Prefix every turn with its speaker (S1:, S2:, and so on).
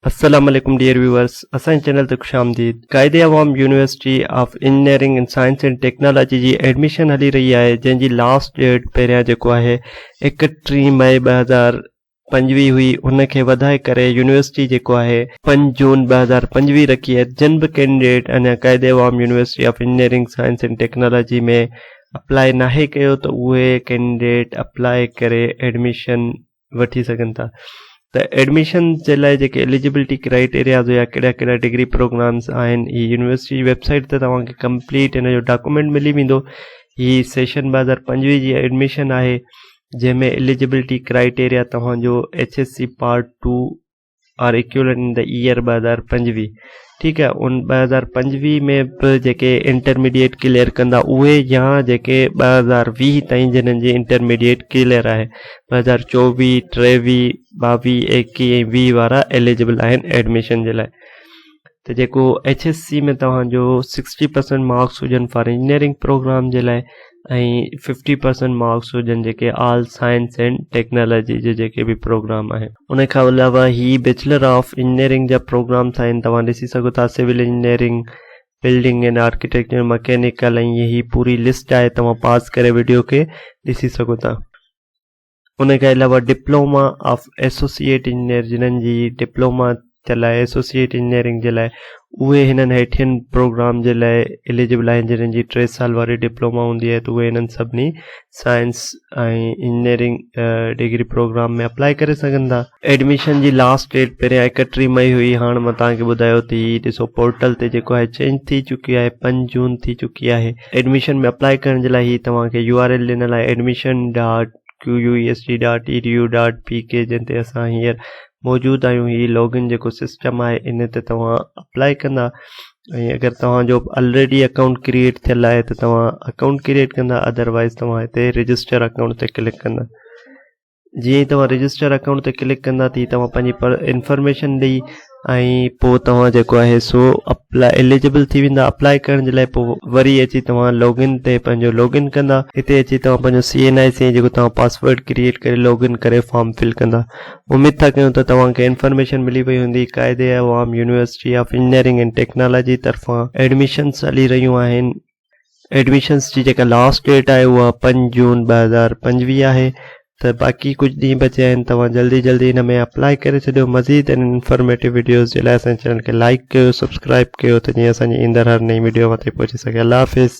S1: السلام عليڪم dear viewers اسان جي چينل تي خوش آمديد Quaid Awam university of engineering and science and technology جي ايڊميشن هلي رهي آهي جنهن جي لاسٽ ڊيٽ پهريان جيڪو آهي اڪٽيهين مئي ٻه هزار پنجويهه هئي ان کي وڌائي ڪري يونيورسٽي جيڪو آهي پنج جون ٻه هزار پنجويهه رکي آهي جن به ڪينڊيڊيٽ اڃا Quaid Awam university of engineering science and technology ۾ apply ناهي ڪيو ته اهي ڪينڊيڊيٽ اپلائي ڪري ايڊميشن وٺي سگهن ٿا ته ايڊميشن جي لاء جيڪي ايليجبلٽي ڪرائيٽيرياز هيا ڪهڙا ڪهڙا ڊگري پروگرامس آهن هي يونيورسٽي جي ويبسائيٽ تي توهانکي ڪمپليٽ هن جو ڊاڪومينٽ ملي ويندو هي سيشن ٻه هزار پنجويهه جي ايڊميشن آهي جنهن ۾ ايليجبلٽي ڪرائيٽيريا توهان جو H S C part two or equivalent in the year ٻه هزار پنجويهه ٺيڪ آهي ان ٻه هزار پنجويهه ۾ به جيڪي انٽرميڊيئيٽ ڪليئر ڪندا اهي يا جيڪي ٻه هزار ويهه تائين جنن جي انٽرميڊيئيٽ ڪليئر آهي ٻه هزار چوويهه ٽيويهه ٻاويهه ايڪيهه ۽ ويهه وارا ايليجبل آهن ايڊميشن جي لاء ته جيڪو ايڇ ايس سي ۾ توهان جو سڪسٽي پرسنٽ مارڪس هجن فار انجنيئرنگ پروگرام جي لاء ۽ ففٽي پرسنٽ مارڪس هجن جيڪي آل سائنس اينڊ ٽيڪنالاجي جي جيڪي به پروگرام آهن ان کان علاوه هي بيچلر آف انجنيئرنگ جا پروگرامس آهن توهان ڏسي سگهو ٿا civil engineering building and architecture mechanical ۽ هي پوري لسٽ آهي توهان پاز ڪري وڊيو کي ڏسي سگهو ٿا ان کان علاوه ڊپلوما آف ايسوسيئيٽ انجنيئر جنھن جي ڊپلوما ٿيل آھي ايسوسيئيٽ انجنيئرنگ جي لاء اھي ھنن ھيٺين پروگرام جي لاء اليجبل آھن جنھن جي ٽي سال واري ڊپلوما ھوندي آھي ته اھي ھنن سڀني science ۽ engineering degree programme ۾ apply ڪري سگھن ٿا ايڊميشن جي لاسٽ ڊيٽ پهريان ايڪٽيهه مئي هئي هاڻ مان توهان کي ٻڌايو ته هي ڏسو پورٽل تي جيڪو آهي چينج ٿي چڪي آهي پنج جون ٿي چڪي آهي ايڊميشن ۾ اپلائي ڪرڻ جي لاء هي توهان کي يو آر ايل ڏنل آهي admission dot Q U E S D dot E D U dot P K جنهن تي اسان هينئر موجود آهيون هي لوگ ان جيڪو سسٽم آهي ان تي توهان اپلائي ڪندا ۽ اگر توهان جو آلريڊي اڪائونٽ ڪريئيٽ ٿيل آهي ته توهان اڪائونٽ ڪريئيٽ ڪندا ادروائز توهان هتي رجسٽر اڪائونٽ تي ڪلڪ ڪندا جيئن ئي توهان رجسٽر اڪائونٽ تي ڪلڪ ڪندا تي توهان پنهنجي انفارميشن ڏئي ۽ پوء توهان جيڪو آهي سو اپلاء اليجبل ٿي ويندا اپلاء ڪرڻ جي لاء پوء وري اچي توهان لوگن تي پنهنجو لوگن ڪندا هتي اچي توهان پنهنجو سي اين آء سي جيڪو توهان پاسورڊ ڪريئيٽ ڪري لوگن ڪري فارم فل ڪندا اميد ٿا ڪيون ته توهان کي انفارميشن ملي وئي هوندي Quaid Awam university of engineering and technology طرفان ايڊمشنس هلي رهيون آهن ايڊمشنس جي جيڪا لاسٽ ڊيٽ آهي اها پنج جون ٻه هزار پنجويهه آهي ته باقي ڪجهه ڏينهن بچيا آهن توهان جلدي جلدي هن ۾ اپلائي ڪري ڇڏيو مزيد ان انفارميٽو ويڊيوز جي لاء اسان چينل کي لائڪ ڪيو سبسڪرائب ڪيو ته جيئن اسان جي ايندڙ هر نئين ويڊيو اوهان تائين پهچي سگهي الله حافظ